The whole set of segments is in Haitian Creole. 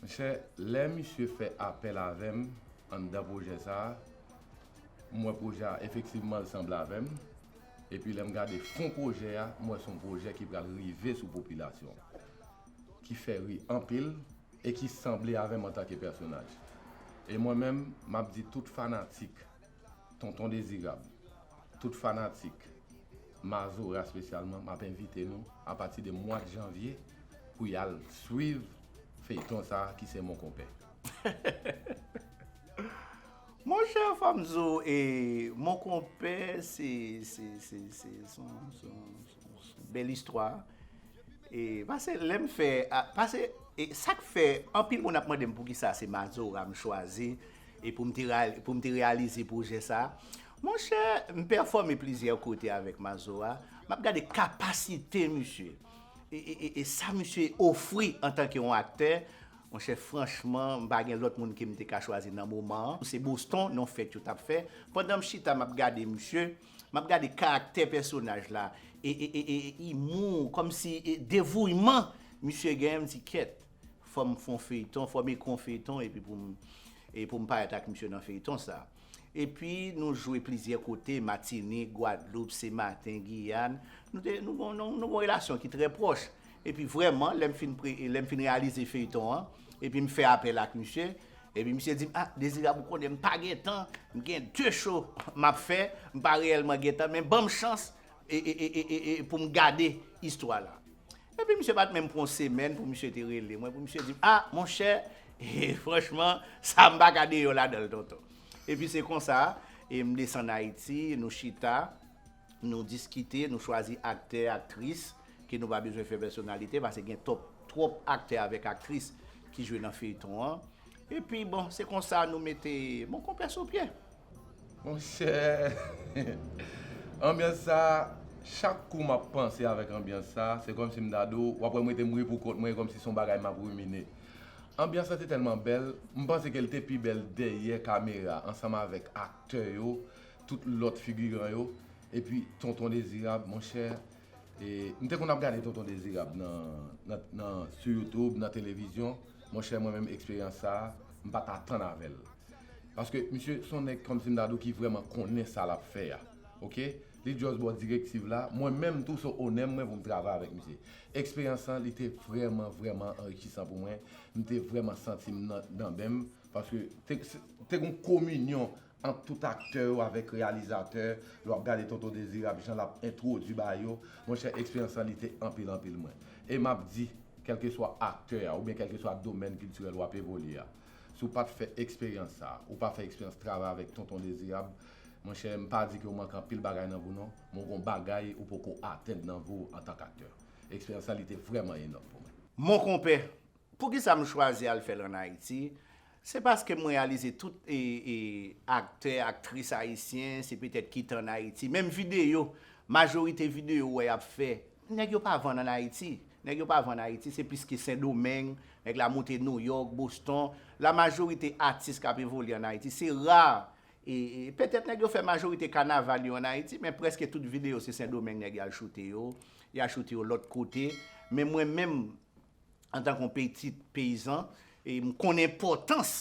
Monchè lè misye fè apèl avèm anndan pwojè sa m wè pwojè a efektivman l sanble avèm epi lèm gade fon pwojè a m wè son pwojè ki pral rive sou popilasyon ki fè ri anpil e ki sanble avèm antanke pèsonaj e mwen menm map di tout fanatik Tonton Dezirab, tout fanatik Mazora spesyalman map envite nou a pati de mwad Janvye pou yal swiv feyton sa ki se Mon Compère. Monchè fòm di w e Mon Compère se se se se son son. Bel istwa e pase lem fe pase e sak fe anpil moun ap mandem poukisa se mazora m chwazi e poum te poum te reyalize pwojè sa monchè m pèfome plizyè kote avek mazora map gade kapasite misye e sa misye ofri antanke yon aktè monchè franchman m pa gen lot moun kem te ka chwazi nan moman an se boston yon fet yo tap fe pandan m chita map gade misye. Map gade karaktè pèsonaj la e imou komsi devouyman misye gen mdi kyèt fòm fon feyton fòm ekri yon feyton epi poum parèt ak misye nan feyton sa epi nou jwe plizyè kote matinik gwadloup senmaten giyàn nou gon relasyon ki trè pwòch epi vrèman lèm fin reyalize feyton an epim fè apèl ak misye Epi misye di m, ah Dezirab ou konnen m pa gen tan, m gen 2 show m ap fè, m pa reyèlman gen tan, men ban m chans pou m gade istwa la. Epi misye pa t menm pran yon semèn pou misye te rele mwen, pou misye di m, ah monchè, franchman, sa a m pa ka deyò ladan l tonton. Epi se konsa, m desann Ayiti, nou chita. Nou diskite, nou chwazi aktè, aktris ke nou pa bezwen fè pèsonalite pase gen top twòp aktè avèk aktris ki jwe nan feyton an. Epi bon se konsa nou mete bon konpè sou pye. Monchè anbyans sa chak kou map panse avèk anbyans sa se kòmsi m ta di w wap wè m rete m ri pou kont mwen e kòmsi se yon bagay map rimine. Anbyans la te tèlman bèl m panse ke l te pi bèl dèyè kamera ansanm avèk aktè yo tout lòt figiran yo epi tonton dezirab monchè m te konn ap gade tonton dezirab nan sou youtube nan televizyon monchè mwen menm eksperyans sa m pat atann avèl paske misye son nèg kòmsi m ta di w ki vrèman konnen sa lap fè a ok li just ba w direktiv la mwen menm tou se onè mwen pou m travay avèk misye eksperyans sa li te vrèman vrèman anrichisan pou mwen m te vrèman santi m nan danben m paske te gon kominyon ant tout aktè yo avèk reyalizatè, lè wap gade Tonton Dezirab jan lap entwodwi ba yo, monchè eksperyans lan li te anpil anpil mwen. E map di, kèlkeswa aktè a oubyen kèlkeswa domèn kiltirèl wap evolye a, si w pat fè eksperyans sa, ou pa fè eksperyans travay avèk Tonton Dezirab, monchè m pa di ke ou manke anpil bagay nan vi w non, men w gon bagay ou poko atenn nan vi w antank aktè. Eksperyans sa li te vrèman enòm pou mwen. Mon konpè, Poukisa m chwazi al fè l an Ayiti? Se paske m reyalize tout aktè, aktris ayisyen se petèt ki te an Ayiti. Menm videyo, majorite videyo ou wè y ap fè, nèg yo pa vann an Ayiti. Nèg yo pa vann Ayiti, se pliske Sendomeng, nèg la moute Nouyòk, Boston. La majorite atis k ap evolye an Ayiti, se ra, petèt nèg yo fè majorite kanaval yo an Ayiti, men prèske tout videyo se Sendomeng nèg yo al choute yo, y a choute yo lòt kote. Men mwen menm, antan kon pitit peyizan e m konnen enpòtans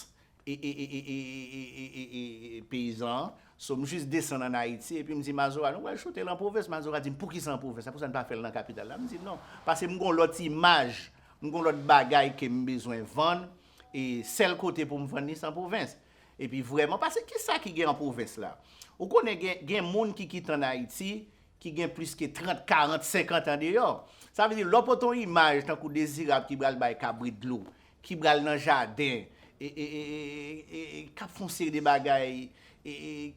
peyizan an so m jis desann an Ayiti epi m di Mazora nou pral choute l an pwovens Mazora di m poukisa an pwovens la poukisa n pa fè l nan kapital la m di non paske m gon lòt imaj m gon lòt bagay ke m bezwen vann e sèl kote pou m vann li se an pwovens epi vrèman paske kisa ki gen an pwovens la ou konnen gen moun ki kite an Ayiti ki gen plis ke 30, 40, 50 an deyò. Sa vle di lè w pote yon imaj tankou Dezirab ki pral bay kabrit dlo, ki pral nan jaden, k ap fè yon seri de bagay,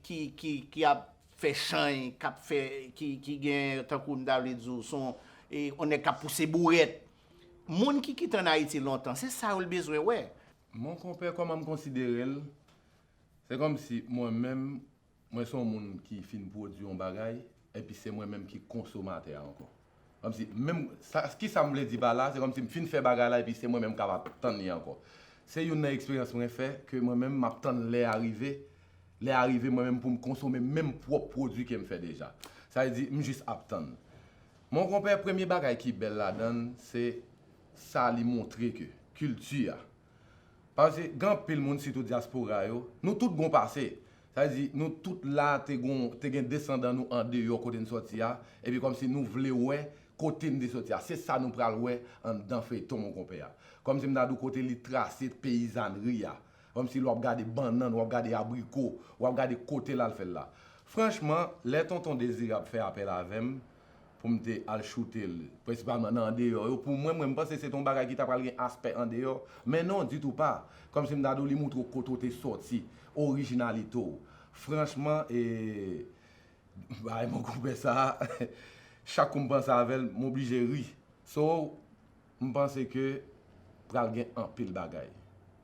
ki ap fè chany, k ap fè, ki gen tankou m ta vle di w son yon nèg k ap pouse bourèt. Moun ki kite ann Ayiti lontan, se sa yo l bezwen wè. Monkonpè kòman m konsidere l, se kòmsi mwen menm Mwen se yon moun ki fin pwodui yon bagay, epi se mwen menm ki konsomatè a ankò. Kòmsi, menm, sa, kisa m vle di pa la, se kòmsi m fin fè bagay la epi se mwen menm k ap ap tann li ankò. Se youn nan eksperyans mwen fè, ke mwen menm m ap tann lè a rive, lè a rive mwen menm pou m konsome menm pwòp pwodui ke m fè deja. Sa vle di, m jis ap tann. Mon konpè, premye bagay ki bèl ladan l, se sa li montre ke kilti a, Pase gen anpil moun sitou dyaspora yo, nou tout gon pase. Sa vle di nou tout la te gon te gen desandan nou andeyò kote n sòti a, epi kòmsi nou vle wè kote n te sòti a. Se sa nou pral wè anndan feyton monkonpè a. Kòmsi m ta di w kote li trase peyizànri a. Kòmsi l w ap gade bannann, w ap gade abriko, w ap gade kote l al fè l la. Franchman, lè Tonton Dezirab fè apèl avè m, pou m te al choute l prensipalman nan andeyò yo pou mwen mwen m panse se te yon bagay ki ta pral gen aspè andeyò men non ditou pa kòmsi m ta di w li montre w kote w te sòti orijinalite w franchman e bay mwen konpè sa a chak kou m panse avè l m oblije ri so M panse ke pral gen anpil bagay.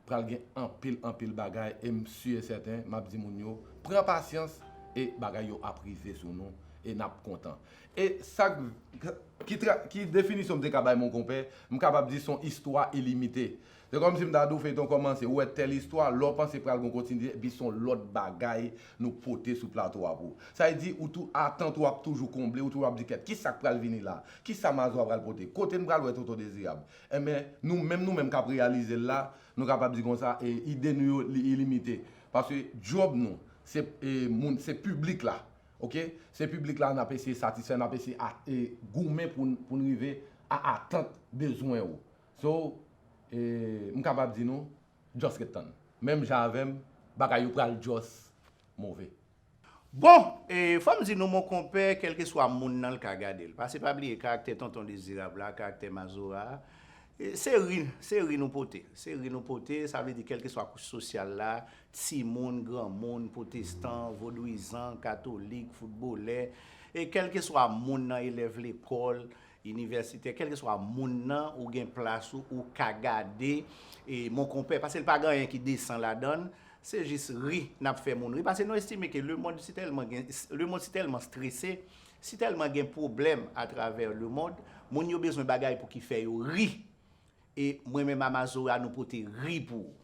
Pral gen anpil anpil bagay e m si e sèten m ap di moun yo pran pasyans e bagay yo ap rive sou nou e n ap kontan. E sa k, ki definisyon m te ka bay monkonpè, m kapab di son istwa ilimite. Se kòmsi m ta di w feyton kòmanse, ou wè tèl istwa, lè w panse pral gon kontinite epi son lòt bagay nou pote sou plato a pou ou. Sa vle di ou tou atant ou ap toujou konble, ou toujou ap di kèt kisa k pral vini la, kisa Mazo a pral pote, kote n pral wè Tonton Dezirab. Enben, nou menm nou menm k ap reyalize l la, nou kapab di konsa, e ide nou yo li ilimite. Paske djòb nou se e moun se piblik la ok, se piblik la n ap eseye satisfè, n ap eseye a e goumen pou n pou n rive a atant bezwen ou. So, m kapab di nou, just ret tann. Menm jan avè m, bagay yo pral just move. Bon! Fò m di nou mon konpè, kèlkeswa moun nan l ka gade l. Pase pa bliye karaktè Tonton Dezirab la, karaktè Mazora a, se ri, se ri nou pote. Se ri nou pote, sa vle di kèlkeswa kouch sosyal la, timoun, granmoun, pwotestan, vodwizan, katolik, foutbolè, e kèlkeswa moun nan, elèv lekòl, Inivèsitè kèlkeswa moun nan ou gen plas ou ou ka gade e mon konpè pase l pa gen anyen ki desan ladann se jis ri n ap fè moun ri pase nou estime ke lemond si tèlman gen lemond si tèlman strese si tèlman gen pwoblèm atravè lemond moun yo bezwen bagay pou ki fè yo ri E mwen men mama zora nou pote ri pou ou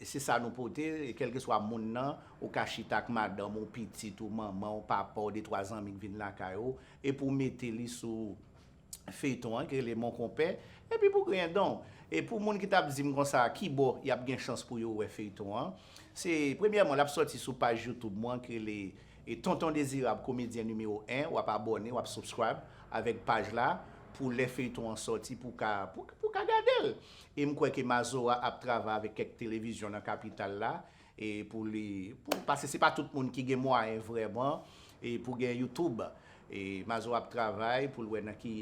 se sa nou pote kelkeswa moun nan ou ka chita ak madanm ou pitit ou manmanw papaw de twa zanmi k vin lakay ou epi ou mete li sou feyton an ki rele mon konpè epi pou griyen danw e pou moun ki tap dim konsa kibò yap gen chans pou yo wè feyton an se premyèman lap sòti sou paj youtube mwen ki rele E tonton dezirab komedyen nimewo 1 wap abòne wap subscribe avèk paj la pou lè feyton an sòti pou ka pou ka gadel e m kwè ke mazora ap travay avèk kèk televizyon nan kapital la e pou li pou paske se pa tout moun ki gen mwayen vrèman e pou gen youtoub e mazora ap travay pou l wè nan ki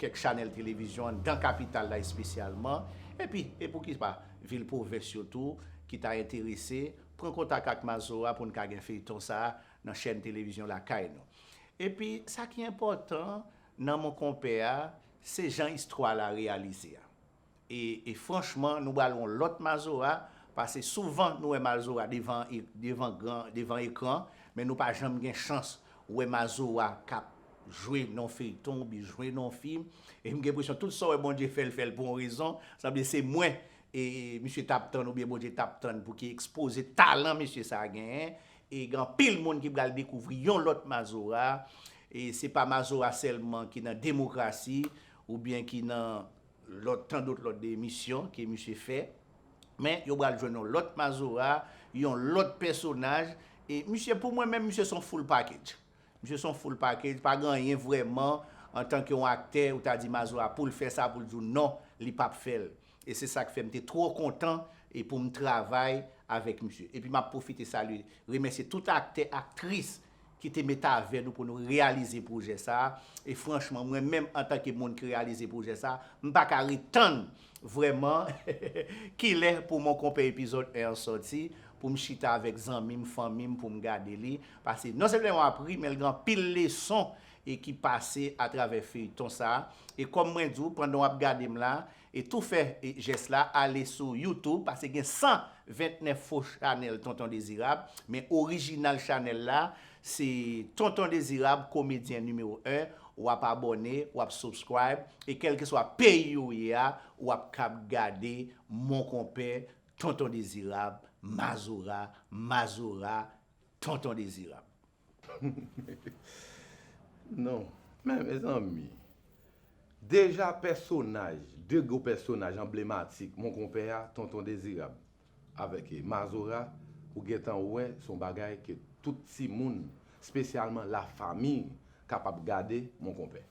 kèk chanèl televizyon dan kapital la espesyalman epi e pou ki pa vil pwovens yo tou ki ta enterese Pran kontak ak Mazora pou n ka gen feyton sa a nan chèn televizyon lakay nou. Epi, sa ki enpòtan nan Mon Konpè a, se jan istwa la reyalize a. E, e franchman, nou bal on lòt Mazora, pase souvan nou wè Mazora devan e, devan gran, devan ekran, men nou pa janm gen chans wè Mazora k ap jwe nan on feyton oubyen jwe nan on fim. E m gen presyon tout sa w wè Bondye fè l fè l pou on rezon, sanble se mwen e misye tap tann oubyen Bondye tap tann pou ki ekspoze talan mesye sa genyen e gen anpil moun ki pral dekouvri yon lòt Mazora e se pa Mazora sèlman ki nan demokrasi oubyen ki nan lòt tan dòt lòt de emisyon ke misye fè men yo pral jwenn yon lòt Mazora yon lòt pèsonaj e misye pou mwen menm misye son full package misye son full package pa gen anyen vrèman antanke yon aktè ou ta di Mazora poul fè sa poul di w non li pap fèl. E se sa k fè m te twò kontan e pou m travay avèk misye. Epi m ap pwofite salye, remèsye tout aktè, aktris ki te met avè nou pou nou reyalize pwojè sa a. E franchman, mwen menm antanke moun ki reyalize pwojè sa a, m pa ka ret tann vrèman kilè pou Mon Compère epizòd 1 an sòti pou m chita avèk zanmi m, fanmi m pou m gade li. Pase non sèlman w ap ri men l gen anpil leson e ki pase atravè feyton sa e kòm mwen di w pandan wap gade m la e tou fè jès la ale sou YouTube pase gen 129 fo chanèl tonton dezirab men orijinal chanèl la se tonton dezirab komedyen nimewo 1 wap abòne wap subscribe e kèlkeswa peyi ou ye a wap kab gade mon konpè tonton dezirab mazora mazora tonton dezirab. Non men mezanmi deja pèsonaj 2 gwo pèsonaj anblematik mon konpè a tonton dezirab avèk mazora ou gentan wè son bagay ke tout timoun spesyalman la famiy kapab gade mon konpè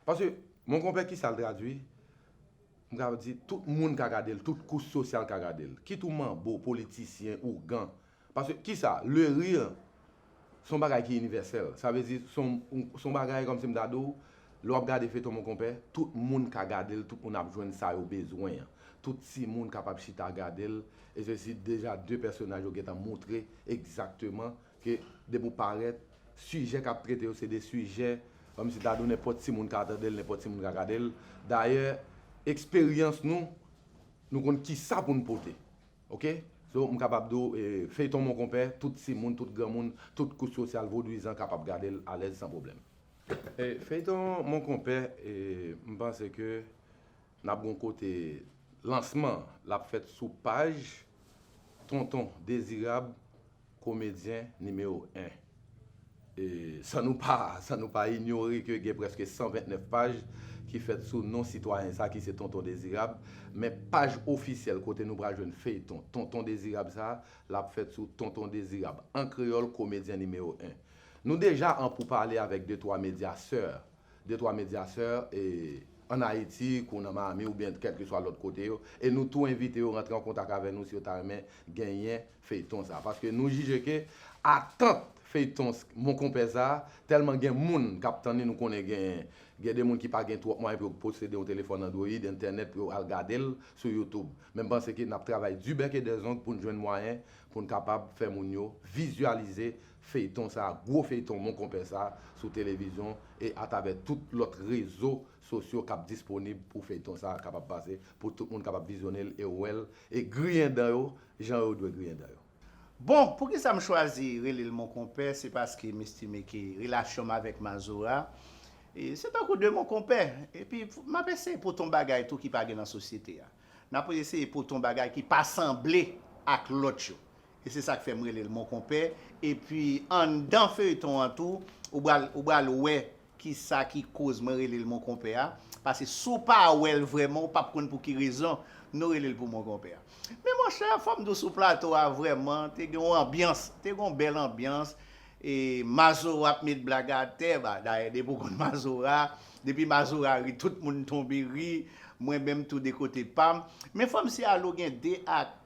paske mon konpè kisal tradwi m ka di tout moun ka gadel tout kouch sosyal ka gadel kit ou manbo politisyen ougan Paske kisa? Le rire se yon bagay ki inivèsèl. Sa vle di se yon bagay kòmsi m ta di w lè w ap gade feyton Mon Compère, tout moun ka gade l, tout moun ap jwenn sa yo bezwen an. Tout timoun kapab chita gade l e se si deja 2 pèsonaj yo gentan montre egzakteman ke depi w parèt, sijè k ap trete yo se 2 sijè kòmsi ta di w nenpòt timoun ka tande l, nenpòt timoun ka gade l. Dayè eksperyans nou, nou konn kisa pou n pote. Ok so m kapab di w feyton monkonpè tout timoun tout granmoun tout kouch sosyal vodouyizan kapab gade l alèz san pwoblèm. Feyton monkonpè m panse ke n ap gen w kote lansman l ap fèt sou paj tonton dezirab Komedyen nimewo 1. E san nou pa san nou pa inyore ke gen prèske 129 paj ki fèt sou non sitwayen sa ki se Tonton Dezirab, men paj ofisyèl kote nou pral jwenn feyton Tonton Dezirab sa, l ap fèt sou Tonton Dezirab, an kreyòl, Komedyen nimewo 1. Nou deja an poupale avèk de twa medya sè 2 twa medyasè e an Ayiti kou nan Miami oubyen kèlkeswa lòt kote yo e nou tou envite yo rantre an kontak avè nou si yo ta renmen genyen feyton sa paske nou jije ke atant feyton mon konpè sa tèlman gen moun kap tann li nou konnen gen gen de moun ki pa gen twòp mwayen pou yo posede yon telefòn android entènèt pou yo al gadel sou youtube men m panse ke nap travay du bec et des ongles poun jwenn mwayen poun kapab fè moun yo vizyalize Feyton sa gwo feyton mon konpè sa sou televizyon e atavè tout lòt rezo sosyo kap disponib pou feyton sa kapab pase pou tout moun kapab vizyonel e wèl e griyen dan yo jan yo dwe griyen dan yo. Bon poukisa m chwazi relel mon konpè se paske m estime ke relasyon m avèk Mazora se tankou 2 mon konpè epi map eseye pote yon bagay tou ki pa gen nan sosyete a nap eseye pote yon bagay ki pa sanble ak lòt yo E se sak fè m rele l mon konpè epi anndan feuilleton an tou ou bal ou bal wè kisa ki koz mwen rele l mon konpè a pase si w pa wè l vrèman ou pap konn pou ki rezon nou rele l pou mon konpè a. Men monchè fò m di w sou plato a vrèman te gen yon anbyans te gen yon bèl anbyans e Mazora ap met blag atè ba dayè depi w konn Mazora depi Mazora ri tout moun tonbe ri mwen menm tou de kote pa m men fò m siy ale w gen 2 ak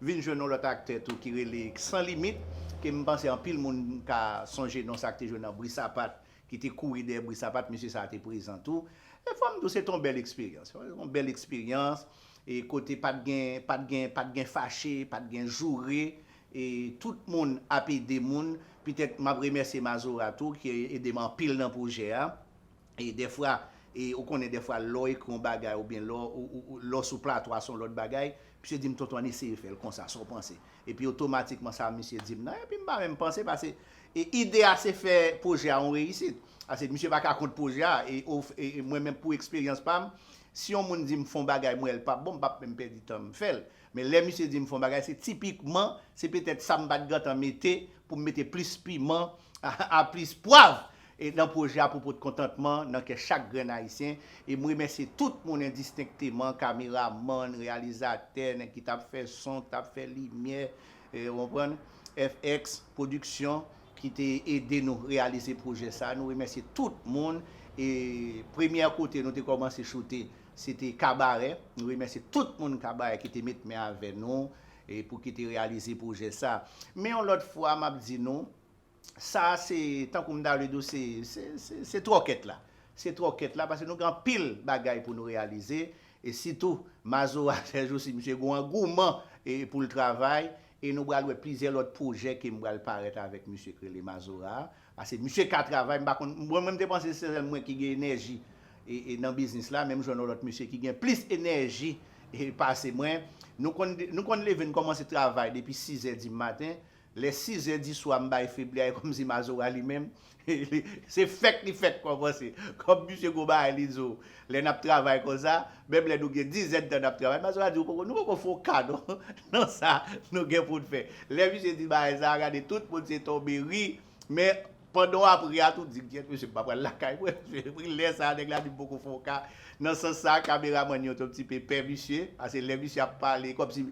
Vin jwenn yon lòt aktè tou ki rele Sans limite ke m panse anpil moun ka sonje non sa ak te jwe nan Bri Sapat ki te kouri dèyè Bri Sapat mesye sa a te prezan tou e fò m di w se te yon bèl eksperyans yon bèl eksperyans e kote pa t gen pa t gen pa t gen fache pa t gen joure e tout moun ap ede moun petèt m ap remèsye Mazora tou ki ede m anpil nan pwojè a. E dèfwa, e ou konnen dèfwa lè w ekri yon bagay oubyen lè w, lè w sou plato a se yon lòt bagay, misye di m tonton ann eseye fè l konsa, sa w panse? Epi otomatikman sa misye di m nan, epi m pa menm panse pase e ide a se fè pwojè a yon reyisit. Pase misye pa ka kont pwojè a e o e mwen menm pou eksperyans pa m, si yon moun di m fè yon bagay m wè l p ap bon m p ap menm pèdi tan m fè l. Men lè misye di m fon bagay se tipikman se petèt sa m pat gentan mete pou m mete plis piman a plis pwav nan pwojè a pou pot kontantman nan kè chak grenn ayisyen e m remèsye tout moun endistenkteman kameramann, reyalizatè, nèg ki tap fè son, ki tap fè limyè ou konprann, FX pwodiksyon ki te ede nou reyalize pwojè sa nou remèsye tout moun e premyè kote nou te kòmanse choute Se te kabarè. Nou remèsye tout moun kabarè ki te met men avè nou pou ki te reyalize pwojè sa. Men yon lòt fwa m ap di nou, sa a se, tankou m ta vle di w se, se twòkèt la. Se twòkèt la paske nou gen anpil bagay pou nou reyalize e sitou Mazora sèjousi misye gen yon angouman pou l travay e nou pral wè plizyè lòt pwojè ke m pral parèt avèk misye k rele Mazora a. Pase misye ka travay m pa konn mwen menm te panse se sèl mwen ki gen enèji nan biznis la menm jan yon lòt misye ki gen plis enèji pase mwen nou konn nou konn leve n kòmanse travay depi 6 zè di maten lè 6 zè di swa m bay febli a e kòmsi mazora li menm se fèk li fèk kòmanse kòm misye gwo bagay li di w Lè nap travay konsa, menm lè nou gen dizèdtan nap travay, Mazora di ou poko, nou poko fon ka non nan sa nou gen poun fè. Lè misye di bagay sa, gade tout moun se tonbe ri, men pandan wap ri a tou di kyèt mesye m pa pral lakay mwen, epi lè sa nèg la di m poko fon ka, nan sans sa kameramann yo te yon ti pe pè misye, pase lè misye ap pale kòmsi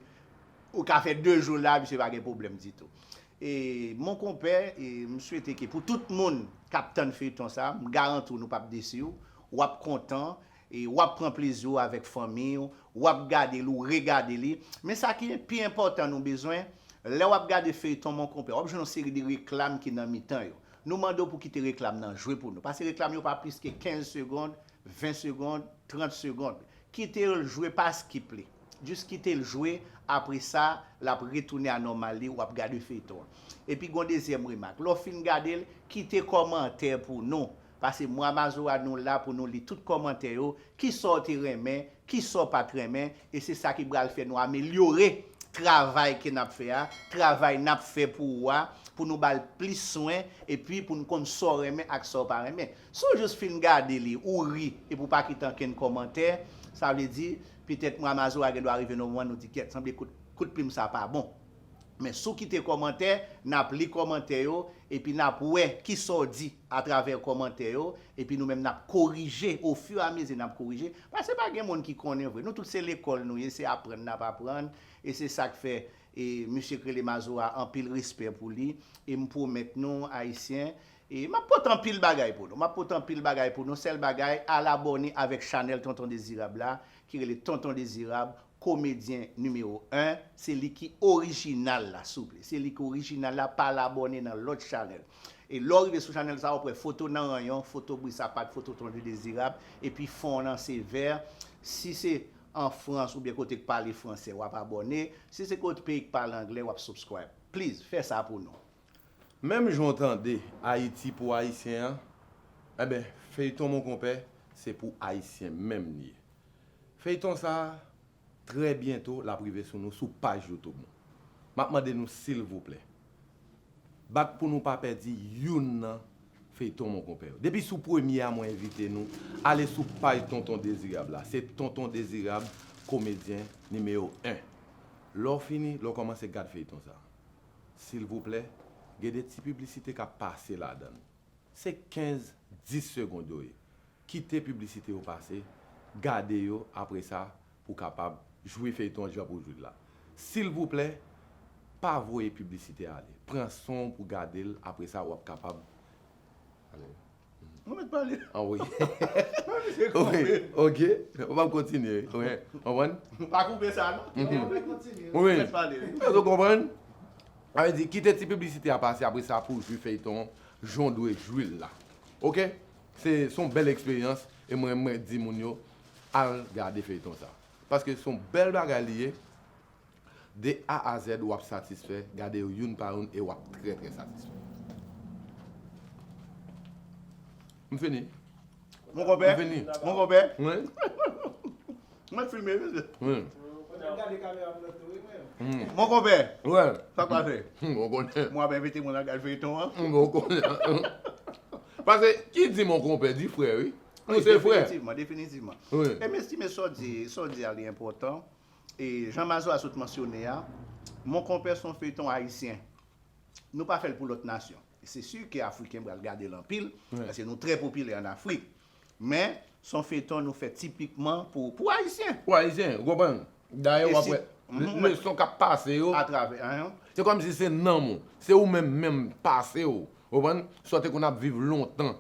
ou ka fè 2 jou la misye pa gen pwoblèm ditou. E mon konpè e m swete ke pou tout moun kap tann feyton sa m garanti w nou pap desi w wap kontan e wap pran plezi w avèk fanmiy w wap gade l ou regade li men sa ki pi enpòtan nou bezwen lè wap gade feyton mon konpè wap jwenn yon seri de reklam ki nan mitan yo nou mande w pou kite reklam nan jwe pou nou pase reklam yo pa plis ke 15 segond 20 segond 30 segond kite l jwe pa skip li. Jus kitel jwe apresa lap retounen a nòmal li wap gade feyton an epi gon dezyèm remak lèw fin gadel kite kòmantè pou nou pase mwa mazora nou la pou nou li tout kòmantè yo kisaw te renmen kisaw pat renmen e se sa ki pral fè nou amelyore travay ke nap fè a travay nap fè pou ou a pou nou bal plis swen epi poun konn saw renmen ak saw pa renmen si w jus fin gade li ou ri epi w pa kite ankenn kòmantè sa vle di Petèt mwa Mazora gen dwa rive nan moman nou di kèt sanble kout kout plim sa pa bon. Men si w kite kòmantè, n ap li kòmantè yo epi n ap wè ki sa w di atravè kòmantè yo epi nou menm n ap korije ofiramize n ap korije paske pa gen moun ki konnen vre. Nou tout se lekòl nou ye, se aprann n ap aprann e se sa k fè e misye k rele Mazora anpil respè pou li e m pwomèt nou Ayisyen E map pote anpil bagay pou nou map pote anpil bagay pou nou sèl bagay al abòne avèk chanèl tonton dezirab la ki rele tonton dezirab komedyen nimewo 1 se li ki orijinal la souple se li ki orijinal la pa al abòne nan lòt chanèl e lè w rive sou chanèl sa wap wè foto nan ranyon foto bri sapat foto tonton dezirab epi fon nan se vè si se an frans oubyen kote k pale fransè wap abòne si se kot peyi k pale anglè wap subscribe please fè sa pou nou. Menm jan w tande Ayiti pou Ayisyen an, enben feyton mon konpè se pou Ayisyen menm li ye. Feyton sa a, trè byento l ap rive sou nou sou paj YouTube nou. M ap mande nou silvouplè, bat pou nou pa pèdi youn nan feyton mon konpè yo. Depi sou premye a mwen envite nou ale sou paj Tonton Dezirab la, se Tonton Dezirab komedyen nimewo 1. Lè w fini, lè w kòmanse gad feyton sa a. silvouplè gen de ti piblisite kap pase ladann se 15 10 segond yo ye kite piblisite yo pase gade yo apresa pou kapab jwi feyton jan pou jwil la silvouplè pa voye piblisite ale pran sonw pou gadel apresa wap kapab Mwen met pale. An wi. Mwen mi se koupe. Ok. Ou pa kontinye. Ou e. Ou wan? Ou pa koupe sa non. Ou wan mwen kontinye. Ou e. Mwen met pale. Ou e konpran? A e di kite ti piblisite a pase apre sa pou jwi feyton jan ou dwe jwi l la. Ok? Se son bèl eksperyans e mwen mwen di moun yo al gade feyton sa. Paske son bèl bagay li ye. De A a Z ou ap satisfè, gade yo youn pa youn e w ap trè trè satisfè. M fini. Mon konpè? M fini. Mon konpè? Wi. Mwen filme wi msye. Wi. Fòk m gade kamera m nan tou wi mwen menm. Mon konpè? Wi. Sa k pase? Ou konnen. Mwen ap envite moun al gade feyton an. Ou konnen. Pase ki di mon konpè di frè wi. Nou se frè. Definitivman, definitivman. Wi. E m estime sa w di, sa w di a li enpòtan. E jan Mazora sot mansyone a, Mon Compère son feyton ayisyen. Nou pa fè l pou lòt nasyon. Se si ke Afriken pral gade l anpil, paske nou trè popilè an Afrik. Men, son feyton nou fè tipikman pou pou ayisyen. Pou ayisyen, ou konprann? Dayè wap wè leson kap pase yo, se kòmsi se nanm ou, se ou menm menm pase ou, ou konprann? Sa w te konn ap viv lontan.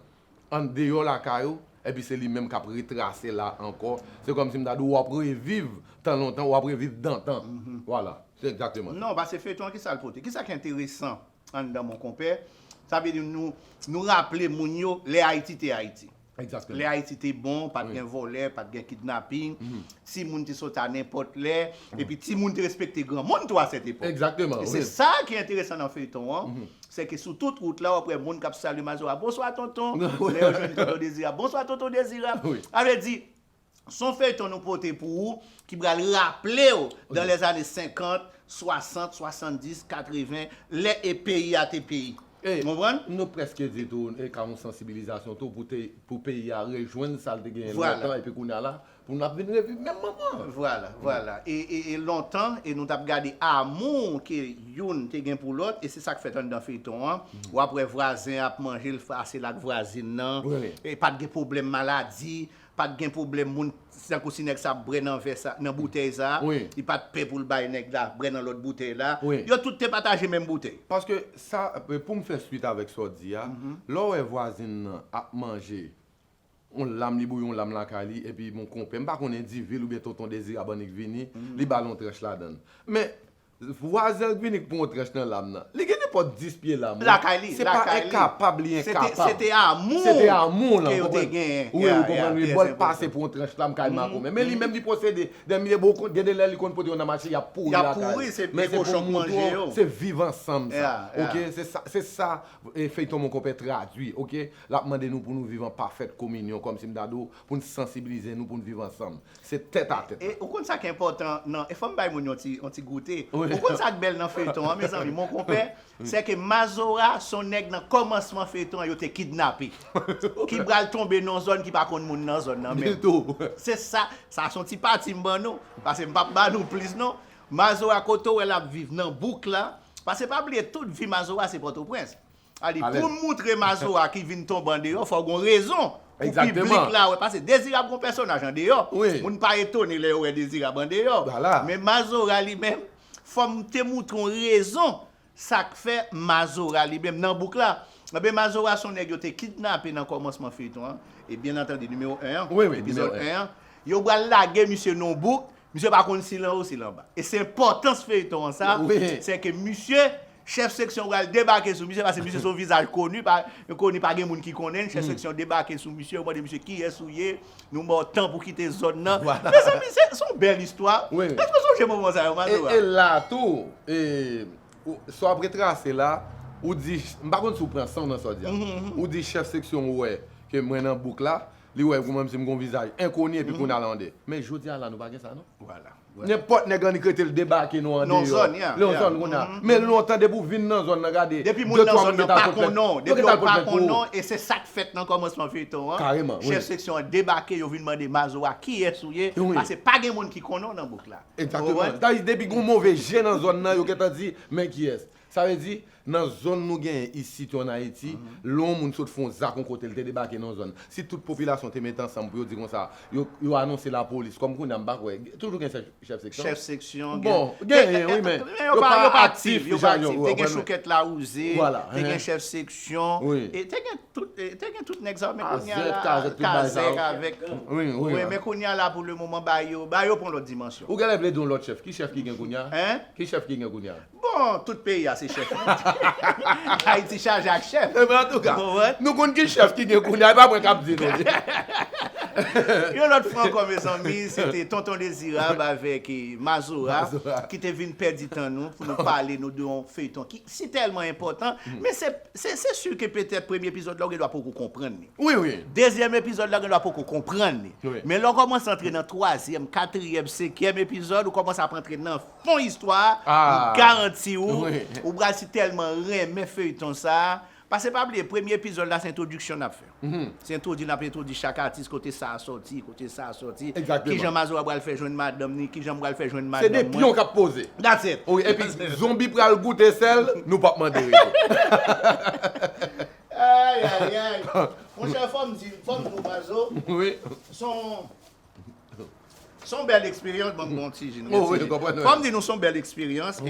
andeyò lakay ou, epi se li menm k ap retrase la ankò. Se kòmsi m ta di w w ap reviv tan lontan, w ap reviv dantan. Vwala, se egzakteman sa. Non, pase feyton an ki sa l pote? Ki sa ki enteresan anndan Mon Konpè? Sa vle di nou nou raple moun yo lè Ayiti te Ayiti. Egzakteman. Lè Ayiti te bon, pa t gen vòlè, pa t gen kidnaping, timoun te soti a nenpòt lè, epi timoun te respekte granmoun tou a sèt epòk. Egzakteman, wi. E se sa ki enteresan nan feyton an, Sèke sou tout wout la w ap wè moun k ap salye Mazora, Bonswa tonton! Lè yo jwenn tonton Dezirab, Bonswa tonton Dezirab! Sa vle di, s on feyton nou pote pou ou ki pral raple w dan lèzane senkant, swasant, swasanndis, katreven, lè e peyi a te peyi. E, nou prèske di tou, e ka yon sansibilizasyon tou pou peyi a rejwenn sa l te genyen lontan epi kounye a la Pou nou ap vin reviv menm moman an. Vwala, vwala. E, e, e lontan, e nou tap gade amour ke youn te gen pou lòt, e se sak fèt anndan feyton an. Wap wè vwazen ap manje l fasil ak vwazin nan. Wi. E pat gen pwoblèm maladi, pat gen pwoblèm moun, tankou si nèg sa ap bwè nan vè sa, nan boutèy sa, Wi. li pat pè pou l bay nèg la bwè nan lòt boutèy la. Wi. Yo tout te pataje menm boutèy. Paske sa, poum fè swit avèk sa w di a, lè w wè vwazin nan ap manje yon lam li bouyi yon lam lakay li epi yon konpè m pa konnen Divil oubyen Tonton Dezirab annik vini li ba l yon tranch ladan l men vwazen l vini k pran yon tranch nan lam nan li gen nenpòt 10 pye lam lakay li se pa enkapab li enkapab se te amou se te amou lan ou konprann wi bon l pase pran yon tranch lam kay makomè men li menm li posede dè mye bon gen de lè li konn pote yon nan mache y ap pouri lakay li men se pou m montre w se viv ansanm sa ok se sa feyton mon konpè tradui ok. L ap mande nou pou nou viv an pafèt kominyon, kòmsi m ta di w, pou n sansibilize nou pou n viv ansanm. Se tèt a tèt. E ou konn sa k enpòtan nan, e fò m bay moun yon ti goute, ou konn sa k bèl nan feyton an mezanmi monkonpè, sè ke Mazora s on nèg nan kòmansman feyton an yo te kidnape, ki pral tonbe nan yon zòn ki pa konn moun nan zòn nan menm. Se sa, sa s on ti pati m ban nou, pase m p ap ba nou plis non. Mazora kote w wè l ap viv? Nan bouk la, pase pa bliye tout vi Mazora se Pòtoprens. Sa vle di pou n moutre Mazora ki vin tonbe andeyò fò gon rezon pou piblik la wè pase Dezirab gon pèsonaj andeyò moun pa etone lè yo wè Dezirab andeyò men Mazora li menm fò m te moutre yon rezon sa k fè Mazora li menm nan bouk la ebyen Mazora son nèg yo te kidnape nan kòmansman feyton an e byen antandi nimewo 1 an epizòd 1 an yo pral lage misye nan yon bouk misye pa konn si l anwo si l anba e se enpòtans feyton an sa sè ke misye Chèf seksyon pral debake sou misye paske misye se yon vizaj koni, koni pa gen moun ki konnen l, chèf seksyon debake sou misye, yo mande misye kiyès ou ye, nou ba w tan pou kite zòn nan. Mezanmi se yon bèl istwa, èske w sonje moman sa yo Madura? E la a tou, sa w ap retrase la, ou di, m pa konn si w pran san w nan sa w di a, ou di chèf seksyon wè ke mwen nan bouk la, li wè kòmsi m gen yon vizaj enkoni epi kounya l ande. Men jodi a la nou pa gen sa non. Nenpòt nèg annik rete l debake nou andeyò. Nan zòn yan. Nan zòn kounye a. Men lontan depi w vin nan zòn nan gade. Depi moun nan zòn nan pa konnen w. Depi yo pa konnen w e se sa k fèt nan kòmansman feyton an. Kareman wi. Chèf seksyon an debake yo vin mande Mazo a kiyès ou ye. Wi. Pase pa gen moun ki konnen w nan bouk la. Egzakteman. Sa vle di depi gen yon move je nan zòn nan yo gentan di men kiyès. Sa vle di, nan zòn nou genyen isit yo an Ayiti, lè yon moun sot fè yon zak yon kote, l te debake nan yon zòn, si tout popilasyon te mete ansanm pou yo di konsa, yo yo anonse lapolis, kòm kounye a m pa kwè, toujou gen chèf chèf seksyon? Chèf seksyon, gen. Bon, genyen wi men, yo pa aktif jan yo pa aktif, te gen choukèt lawouze, te gen chèf seksyon, e te gen tout te gen tout nèg sa yo men kounye a la, kazèk, kazèk avèk, wi, men kounye a la pou le moman ba yo, ba yo pran lòt dimansyon. Ou genlè vle di yon lòt chèf, ki chèf ki gen kounye a? Hein? Ki chèf ki gen kounye a? Bon, tout peyi a se chèf li. Ayiti chaje ak chèf. Enben antouka, nou konn ki chèf ki gen kounye a, e pa mwen k ap di nou li. Yon lòt fwa ankò mezanmi, se te Tonton Dezirab avèk Mazora ki te vin pèdi tan nou pou nou pale nou de yon feyton ki si tèlman enpòtan. Men se se si ke petèt premye epizòd la ou gen dwa poko konprann li. Wi, wi. Dezyèm epizòd la ou gen dwa poko konprann li. Men lè ou kòmanse antre nan twazyèm, katriyèm, senkyèm epizòd, ou kòmanse ap antre nan fon istwa a m garanti ou ou pral si tèlman renmen feuilleton sa pase pa bliye premye epizòd la se entwodiksyon nap fè se entwodi nap entwodi chak atis kote sa sòti kote sa sòti kijan mazora pral fè jwenn madanm ni kijan m pral fè jwenn madanm mwen se de pyon kap poze that's it epi zonbi pral goute sèl nou pap mande retou ayayayy monchè fòm di fòm di w mazo son. Son bèl eksperyans banm bon ti jin retire. Fòm di nou son bèl eksperyans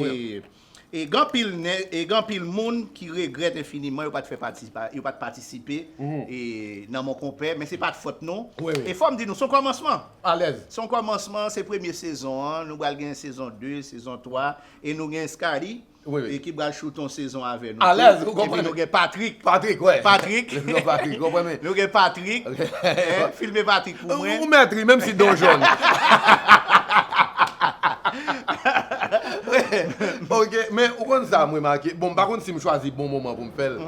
e gen anpil nè e gen anpil moun ki regrèt enfiniman yo pat fè pati yo pat patisipe e nan monkonpè men se pat fòt nou e fòm di nou son kòmansman alèz son kòmansman se premye sezon an nou pral gen sezon 2 sezon 3 e nou gen Scarly. e ki pral choute yon sezon avè nou tou. Epi nou gen Patrick. Patrick, wè. Patrick. Lè nou gen Patrick, wè mwen. Nou gen Patrick. Filme Patrick pou mwen. Ou mèt ri, menm si do w jòn. Ok, men ou konn sa m remake, bon m pa konn si m chwazi bon moman pou m fè l,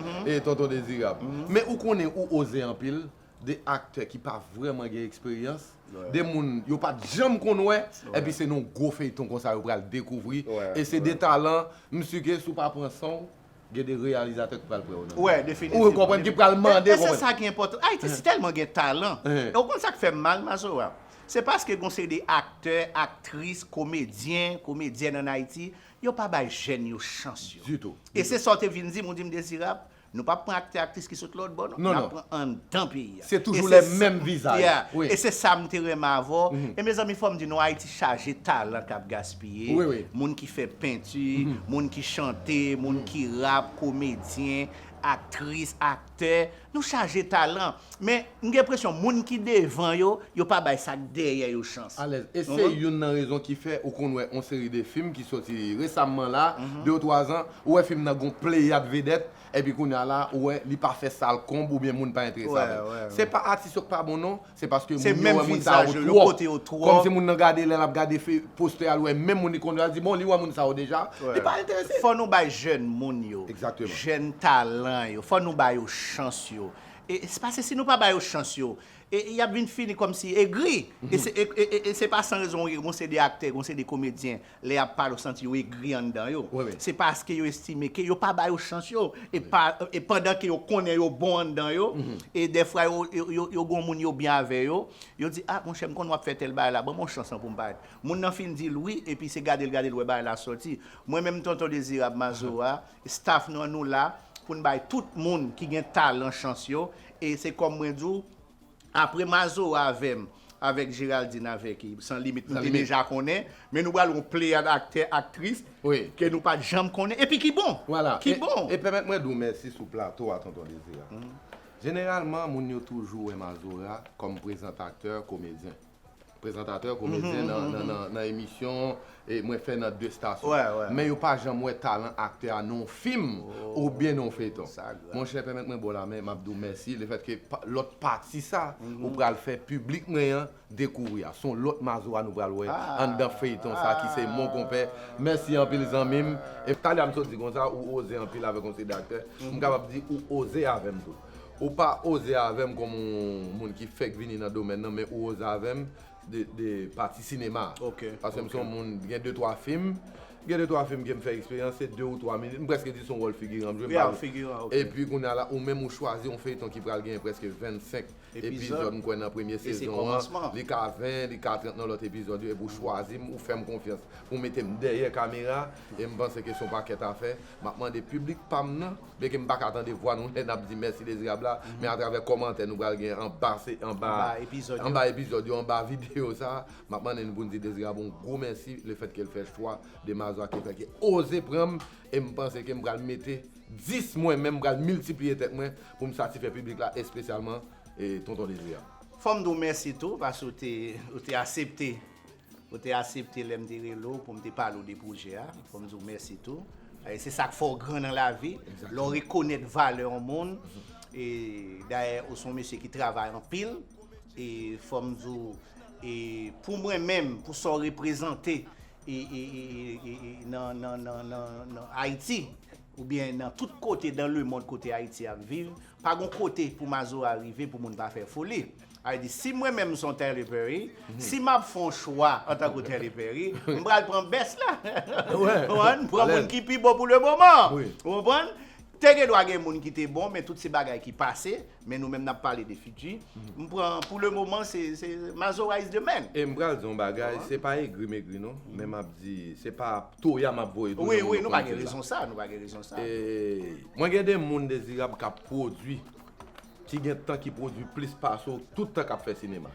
Tonton Dezirab. Men ou konnen ou oze anpil. 2 aktè ki pa vrèman gen eksperyans, 2 moun yo pa t janm konn wè, epi se nan yon gwo feyton konsa yo pral dekouvri, e se 2 talan, m si ke si w pa pran san w, gen 2 reyalizatè ki pral pran w nan men yo, ou konprann, ki pral mande w. E se sa ki enpòtan, Ayiti si tèlman gen talan, e w konn sa k fè m mal Mazora? Se paske gen yon seri de aktè, aktris, komedyen, komedyèn an Ayiti, yo pa bay jèn yo chans yo. Ditou. E se sa w te vin di m, ou di m Dezirab, Nou pap pran aktè aktris ki sot lòt bò non, nap pran anndan peyi a. Se toujou lè menm vizaj. E se sa m te renmen avè w. E mezanmi fò m di nou Ayiti chaje talan kap gaspiye, moun ki fè penti, moun ki chante, moun ki rap, komedyen, aktris, aktè, nou chaje talan. Men, m gen enpresyon moun ki devan yo, yo pa bay sa k dèyè yo chans. Alèz. E se youn nan rezon ki fè ou konn wè on seri de fim ki soti resamman la, de ou twa zan, ou wè fim nan gon pleyad vedèt, epi kounye a la, ou wè li pa fè sal konb oubyen moun pa enterese avè l. Se pa atis yo k pa bon non, se paske moun yo wè moun sa yo twòp. Kòmsi moun nan gade, lè l ap gade postè a, l wè menm moun li konn yo a, l di bon li wè moun sa yo deja, li pa enterese. Fò nou bay jèn moun yo, jèn talan yo, fò nou ba yo chans yo. E se pase si nou pa bayo chans yo e yap vin fini kòmsi egri e se pa san rezon wi gon seri de aktè gon seri de komedyen lè yap pale ou santi yo egri anndan yo se paske yo estime ke yo pa bayo chans yo e pandan ke yo konnen yo bon anndan yo e dèfwa yo gon moun yo byen avè yo yo di a monchè m konnen wap fè tèl bagay la banm yon chans an poum parèt moun nan fin dil wi epi se gadel gadel wè bagay la sòti mwen menm tonton dezirab mazora Staff nan nou la poun bay tout moun ki gen talan chans yo e se kòm mwen di w apre mazora avèm avèk Geraldine avèk San limit nou te deja konnen men nou pral yon pleyad aktè aktris ke nou pat janm konnen epi ki bon ki bon. E pèmèt mwen di w mèsi sou plato a tonton Dezi. Jeneralman moun yo toujou wè mazora kòm prezantatè komedyen. Prezantatè, komedyen nan emisyon mwen fè nan 2 stasyon. Men yo pa janm wè talan aktè a nan yon fim oubyen nan yon feyton. Monchè, pèmèt mwen ba w lamen, m ap di w mèsi lefètke lòt pati sa ou pral fè piblik mwen an dekouvri a. Se yon lòt Mazora nou pral wè anndan feyton sa ki se Mon Konpè. Mèsi anpil zanmi m. Talya m sot di konsa, ou oze anpil avèk yon seri de aktè. M kapab di ou oze avè m tou. Ou pa oze avèm kòm yon moun ki fèk vini nan domèn nan men ou oze avèm de pati sinema a. Ok. Paske m se yon moun gen de twa fim, gen de twa fim ke m fè eksperyans se de ou twa minit, m prèske di se yon wòl figiran m jwe. Ya, figiran, ok. Epi kounye a la ou menm ou chwazi yon feyton ki pral gen prèske 25 epizòd m kwè nan premye sezon an, li ka 20, li ka 30 nan lòt epizòd yo epi ou chwazi m, ou fè m konfyans pou w mete m dèyè kamera e m panse ke se yon pakèt afè. Map mande piblik pam nan, byen ke m pa ka tande vwa nou lè nap di Mèsi Dezirab la, men atravè kòmantè nou pral gen anba epizòd yo, anba videyo sa, map mande nou pou n di Dezirab yon gwo mèsi le fèt ke l fè chwa de Mazwa ki fè ke oze pran m e m panse ke m pral mete 10 mwen menm, m pral miltipliye tèt mwen pou m satifè piblik la espesyalman Tonton Dezirab. Fò m di w mèsi tou paske ou te asepte Ou te asepte lè m te rele w pou m te pale w de pwojè a. Fò m di w mèsi tou. E se sa k fè w gran nan lavi, lè w rekonèt valè yon moun. E dayè ou se yon mesye ki travay anpil. E fò m di w, pou mwen menm, pou sa w reprezante nan Ayiti oubyen nan tout kote dan lemonn kote Ayiti ap viv, pa gen yon kote pou Mazora rive pou moun pa fè foli. Ay di si mwen menm son Tyler Perry, si map fon chwa antan ke Tyler Perry, m pral pran best la. M pran moun ki pi bon pou le moman an. Ou konprann? Te gen dwa gen moun ki te bon men tout se bagay ki pase, men nou menm nap pale de fiti. M pran pou le moman se Mazora is the man. E m pral di yon bagay, se pa egri megri non, men map di se pa toya map voye tou. Wi wi nou pa gen rezon sa, nou pa gen rezon sa. Mwen gen de moun dezirab kap pwodwi ki gen tan ki pwodwi plis pase w tout tan kap fè sinema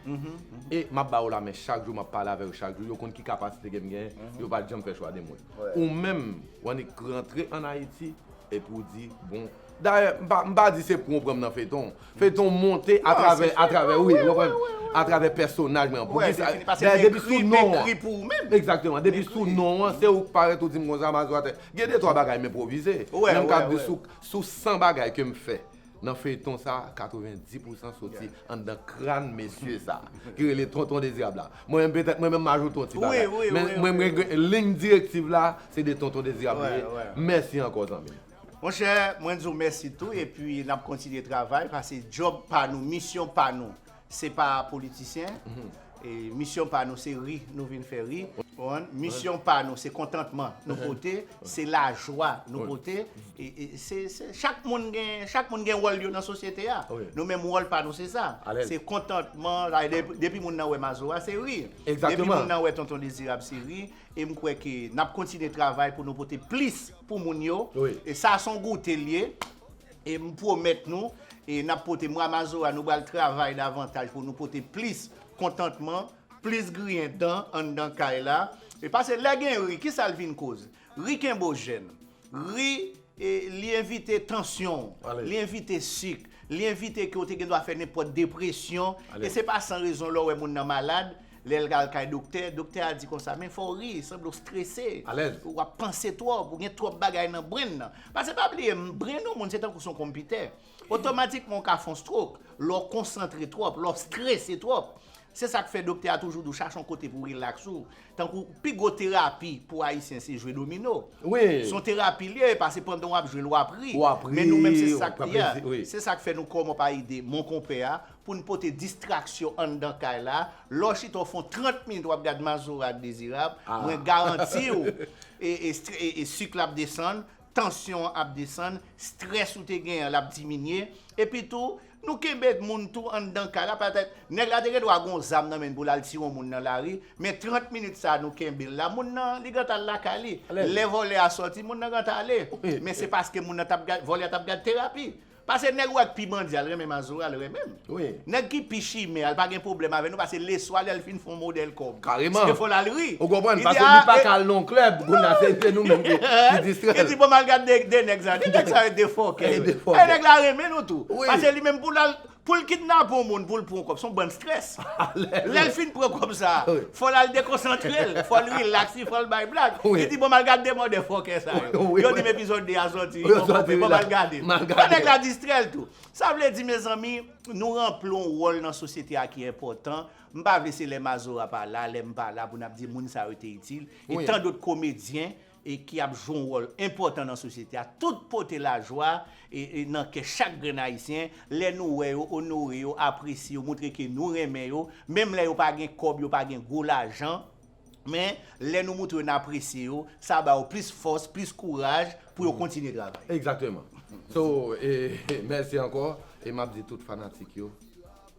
e map ba yo la men chak jou map pale avè yo chak jou yo konn ki kapasite kem gen yo pat janm fè chwa de mwen ou menm w annik rantre an ayiti epi w di bon dayè m pa di se pou w pran m nan feyton feyton monte atravè atravè wi ou konprann atravè pèsonaj mwen an pou kisa dayè depi sou non an egzakteman depi sou non an se ou k parèt ou di m konsa m asou atè gen de twa bagay m enpwovize men m kab di sou san bagay kem fè. Nan feyton sa 90 pousan soti anndan kran mesye sa ki rele tonton dezirab la mwen menm petèt mwen menm m ajoute yon ti bagay men mwen mwen gen lign direktiv la se de tonton dezirab li ye mèsi ankò zanmim. Monchè mwen di w mèsi tou epi nap kontinye travay pase djòb pa nou misyon pa nou Se pa politisyen. Misyon pa nou se ri nou vin fè ri. Misyon pa nou se kontantman nou pote, se lajwa nou pote. Chak moun gen wòl yo nan sosyete a. Nou menm wòl pa nou se sa. Se kontantman. Depi moun nan wè Mazora se ri. Depi moun nan wè Tonton Dezirab se ri. E m kwè ke n ap kontinye travay pou nou pote plis pou moun yo. Sa son goute l ye. E m pwomèt nou, e n ap pote mwa Mazora nou bal travay davantaj pou nou pote plis kontantman, plis griyen dan anndan kay la. E pase lè gen ri, ki sa l vin koz? Ri kenbe w jèn. Ri, li evite tansyon w, li evite sik, li evite ke w te gen dwa fè nenpòt depresyon. E se pa san rezon lè w wè moun nan malad, Lè l al kay doktè, doktè a di konsa, men fò w ri, sanble w strese, w ap panse twòp, ou gen twòp bagay nan brenn nan. Pase pa bliye, brenn yon moun se tankou s on konpitè. Otomatikman w ka fè yon strok, lè w konsantre twòp, lè w strese twòp. Se sa k fè doktè a toujou di w chache yon kote pou w rilaks ou. Tankou pi gwo terapi pou Ayisyen se jwe domino. S on terapi l ye, pase pandan w ap jwe l w ap ri. Men nou menm se sa k fè nou kòmon pa ede monkonpè a, pou n pote distraksyon anndan kay la, lè w chita w fon 30 minit w ap gad Mazora ak Dezirab, mwen garanti w e sik la ap desann, tansyon an ap desann, strès ou te genyen an l ap diminye, epi tou nou kenbe moun tou anndan kay la, petèt nèg la te gen dwa gen yon zam nan men l pou l al tire yon moun nan lari, men 30 minit sa nou kenbe l la, moun nan li gentan al lakay li, lè vòlè a sòti moun nan gentan ale, men se paske moun nan t ap gad, vòlè a t ap gad terapi. Pase nèg wè k pi bandi a l renmen mazora l renmen m wi nèg ki pi chimè a l pa gen pwoblèm avè nou pase leswa lè l fin fon modèl kòb se fò l al ri ou konprann pase li pa ka al nan yon klèb kounya se se nou menm ki distrè l li di bon m al gad 2 nèg sa yo 2 nèg sa yo 2 fòkè yo e nèg la renmen nou tou pase li menm pou l al pou l kidnape yon moun pou l pran yon kòb s on bann strès. Lè l fin pran kòb sa a, fò l al dekonsantre l, fò l rilaks, li fò l bay blag. Li di, bon m al gad 2 mòdè fòkè sa yo. Yo di m epizòd 2 a sòti wi, bon konpè, bon m al gade l. Fò nèg la distrè l tou. Sa vle di mezanmi, nou ranpli yon wòl nan sosyete a ki enpòtan. M pa vle se lè Mazora pa la, lè m pa la pou n ap di moun sa yo te itil. E tandot komedyen e ki ap jwe yon wòl enpòtan nan sosyete a, tout pote lajwa nan kè chak grenn Ayisyen lè nou wè yo, onore yo, apresye yo, montre ke nou renmen yo, menm lè yo pa gen kòb, yo pa gen gwo lajan, men, lè nou montre yo n apresye yo, sa ba yo plis fòs, plis kouraj pou yo kontinye travay. Egzakteman. So, e, mèsi ankò, e m ap di tout fanatik yo.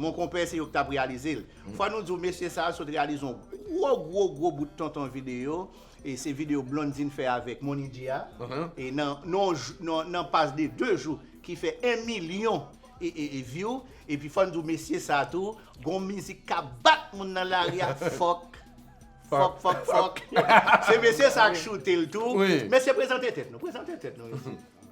Mon konpè se yo ki tap reyalize l. Fwa nou diw mesye sa a sot reyalize yon gwo gwo gwo bout tonton videyo e se videyo Blondine fè avèk Mony Dia e nan nan pas de 2 jou ki fè 1 milyon view epi fòn diw mesye sa a tou gon mizik kap bat moun nan lari a fòk fòk fòk fòk se mesye sa a k choutel tou mesye prezante tèt nou prezante tèt nou mesye.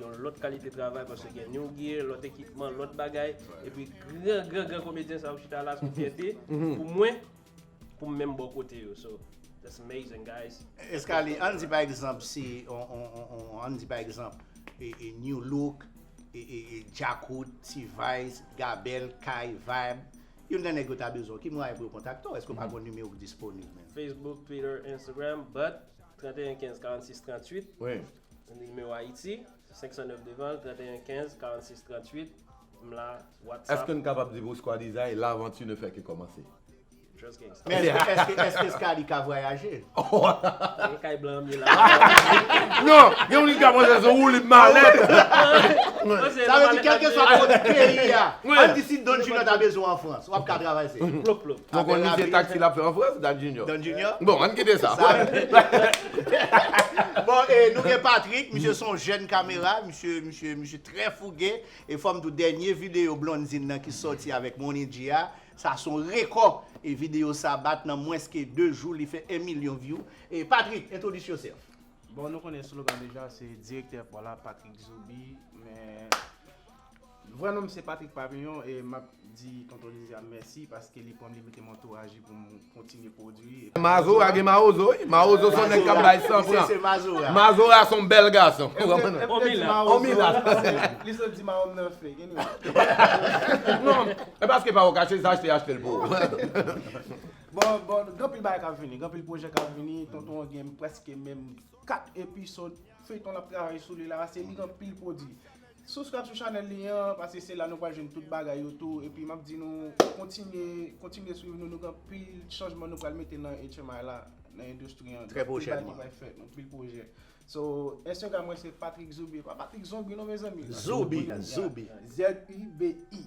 Yon lòt kalite travay paske gen new gear, lòt ekipman, lòt bagay, epi gran gran gran komedyen sa yo chita la son fyète pou mwen pou m menm bò kote yo so that's amazing guys. Escalier ann di pa egzanp si ann di pa egzanp new look, djakout, t-vice, gabèl, kay, vibe youn nan nèg yo ta bezwen w ki mwayen pou yo kontakte w èske w pa gon nimewo k disponib menm? Facebook, Twitter, Instagram, but 31 15 46 38 Nimewo Ayiti, 509 devan l, 31 15 46 38, m la, whatsapp. Eske n kapab di pou Skwadizay, l'aventure ne fait que commencer? Just gangsta. Men eske, eske Skady ka vwayaje? Se kay blan an m ye la. Non, gen moun ki ka panse se yon woulib malèt. Sa vle di kèlkeswa kot peyi a, an n di si Don Julio ta bezwen w an Frans, w ap ka travay se? Plop plop. Poko Avèk ni je lavi. taxi lap fè an France Dan Junior. Dan Junior? Bon ann kite sa. Sa Bon e nou gen Patrick, misye son jèn kamera, misye misye misye trè fouge e fòm di w dènye videyo Blondzine nan ki sòti avèk Mony G a, sa son rekò e videyo sa bat nan mwens ke 2 jou li fè 1 milyon vyou. E Patrick, introduce yourself. Bon nou konnen slogan deja se direktè Paw la Patrick Zoubi men Vrè nom m se Patrick Pavillon e map di Tonton Lizzy a mèsi paske li pranm li metem antouraje pou m kontinye pwodwi. Mazora gen mawozo wi. Mawozo son nèg kap bay san pran. Mazora son bèl gason. Li sot di mawo m nan fek anyway. Non e paske pa wè w kache zaj te achte l pou ou. Bon bon gen anpil bagay kap vini gen anpil pwojè kap vini tonton an gen prèske menm 4 episode feyton lap travay sou li la se li gen anpil pwodwi. Subscribe sou chanel li an paske se la nou pral jwenn tout bagay yo tou epi map di nou kontinye kontinye swiv nou nou gen anpil chanjman nou pral mete nan HMI la nan endustri an gen anpil bagay ki pral fèt anpil pwojè so Instagram mwen se Patrick Zoubi pa Patrick zonbi non mezanmi Zoubi zoubi Z U B I.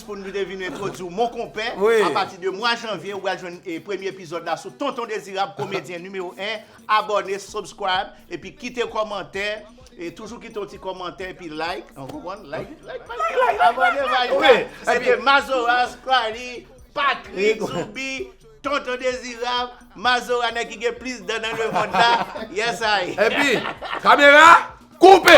Pou nou te vin entwodui w mon konpè, apati de mwa janvye ou pral jwenn premye epizòd la sou Tonton Dezirab komedyen nimewo 1, abòne, subscribe epi kite kòmantè, toujou kite yon ti kòmantè epi like, ou konprann, like, like paj la, abòne paj la, se te Mazora, Scrily, Patrick, Zoubi, Tonton Dezirab, Mazora nèg ki gen plis dan nan lemond la, yes ay. Epi, kamera, koupe!